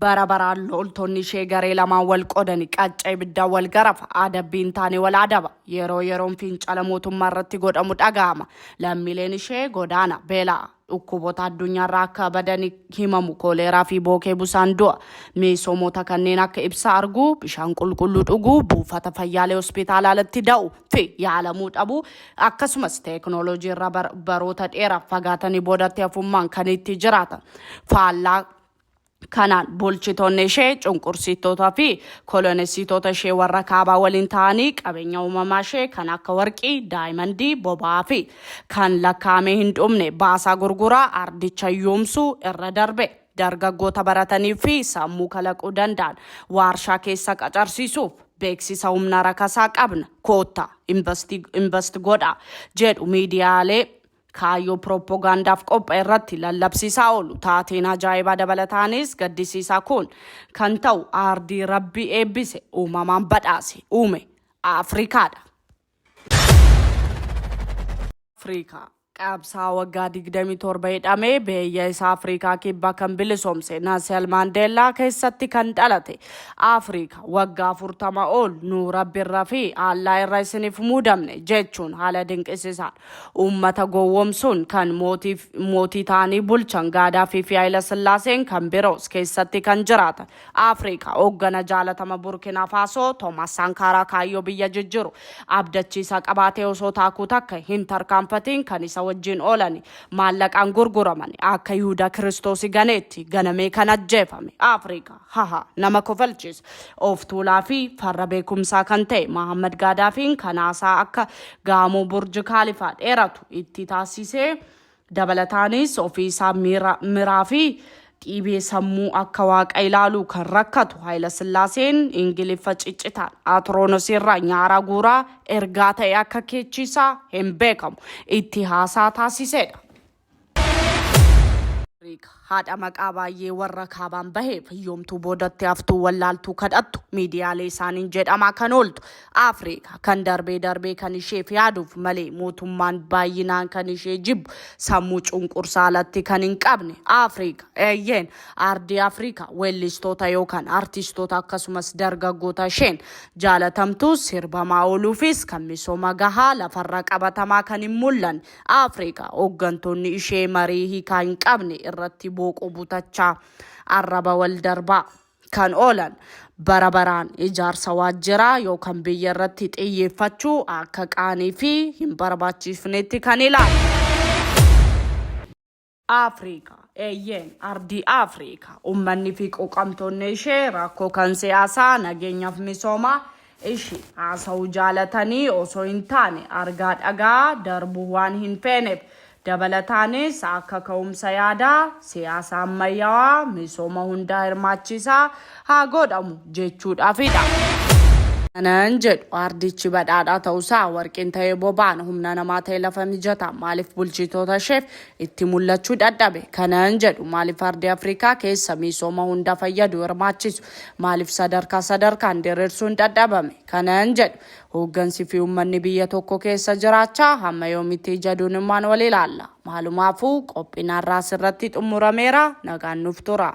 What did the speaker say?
bara baraan loltoonni ishee garee lamaan wal qoodani qacca ibiddaa wal garafa adabbii hin taane wal adaba yeroo yeroon fincala mootummaa irratti godhamu dhaga'ama lammiileen ishee godaana beelaa dhukkuboota addunyaarraa akka badan himamu kooleeraa fi bookee busaan du'a miisoomoota kanneen akka ibsa arguu bishaan qulqulluu dhuguu buufata fayyaalee hospitaalaa alatti da'u fi yaalamuu dhabuu akkasumas teeknooloojii irra baroota dheeraaf fagaatanii boodatti hafummaan kan itti jiraatan faallaa Kanaan bulchitoonni ishee cunqursiittoota fi kolonessitoota ishee warra kaabaa waliin ta'anii qabeenya uumamaa ishee kan akka warqii, daayimandii, boba'aa fi kan lakkaa'amee hin dhumne baasaa gurguraa ardicha yoomsuu irra darbe dargaggoota baratanii fi sammuu kalaquu danda'an waarshaa keessa qacarsiisuuf beeksisa humna rakasaa qabna koottaa invast godha jedhu miidiyaalee kaayyoo pirooppogaandaaf qopha'e irratti lallabsiisaa oolu. Taateen ajaa'ibaa dabalataanis gaddisiisaa kun kan ta'u aardii Rabbii eebbise, uumamaan badhaase, uume Afrikaadha. Afrikaa. Qabsaa waggaa 27 hidhamee biyya isaa Afrikaa kibbaa kan bilisoomse Nasel Maandeellaa keessatti kan dhalate Afrikaa waggaa 40 ol nu rabbirra fi Allaa irra isiniif muudamne jechuun haala dinqisiisaan Uummata gowwomsuun kan mootiif mootii ta'anii bulchan Gaadaafii fi Hayila Sillaaseen kan biroos keessatti kan jiraatan Afrika hooggana jaalatama Burkina Faso Thomas Sankara kaayyoo biyya jijjiru abdachiisaa qabaatee osoo taakuu takka hin tarkaanfatiin kan isa wajjiin oolani maallaqaan gurguramani akka Yihuda Kiristoosi ganeetti ganamee kan ajjeefame Afrika haha nama kofalchiis of tuulaa fi farra beekumsaa kan ta'e Mahammad Gaadaafiin kan haasaa akka gaamoo burji kaalifaa dheeratu itti taasisee dabalataanis ofii isaa miira miraa fi dhiibee sammuu akka waaqa ilaaluu kan rakkatu Haayila Sillaaseen Ingiliffa ciccitaan Atiroonosii irraa nyaaraa guuraa ergaa ta'e akka keechiisaa hin beekamu itti haasaa taasiseedha. Riik haadha maqaa baay'ee warra kaabaan baheef hiyyoomtuu boodatti haftuu wallaaltuu kadhattu miidiyaalee isaaniin jedhamaa kan ooltu Afriika kan darbee darbee kan isheef yaaduuf malee mootummaan baay'inaan kan ishee jibbu sammuu cunqursaa alatti kan hin qabne Afriika eeyyeen aardii Afriika weellistoota yookaan artistoota akkasumas dargaggoota isheen jaalatamtuu sirbamaa ooluufis kan misooma gahaa lafarra qabatamaa kan hin mul'anne Afrikaa hooggantoonni ishee marii hiikaa hin qabne irratti booquu butachaa arraba wal darbaa kan oolan bara baraan ijaarsa waajjiraa yookaan biyya irratti xiyyeeffachuu akka qaanii fi hin barbaachifnetti kan ilaalu. Africa. Eeyyeen, ardii Africa. Ummanni fi quuqamtoonni ishee rakkoo kan siyaasaa, nageenyaaf misoomaa ishii haasa'uu jaalatanii osoo hin taane argaa dhaga'aa darbuu waan hin feeneef. Dabalataanis akka ka'umsa yaadaa, siyaasa ammayyawaa, misooma hundaa hirmaachiisaa haa goodhamu jechuudhaafidha. Kanan jedhu ardichi badhaadhaa ta'usaa, warqiin ta'ee boba'an, humna namaa ta'ee lafa mijataa maaliif bulchitoota isheef itti mul'achuu dadhabe. Kanan jedhu maaliif ardii Afrikaa keessa miisooma hunda fayyadu hirmaachisu maaliif sadarkaa sadarkaan diriirsuun dadhabame? Kanan jedhu hooggansi fi uummanni biyya tokko keessa jiraachaa hamma yoomitti ija duunummaan wal ilaalla? Maalumaafuu qophiin har'aa asirratti xumurameera. Nagaan nuuf turaa.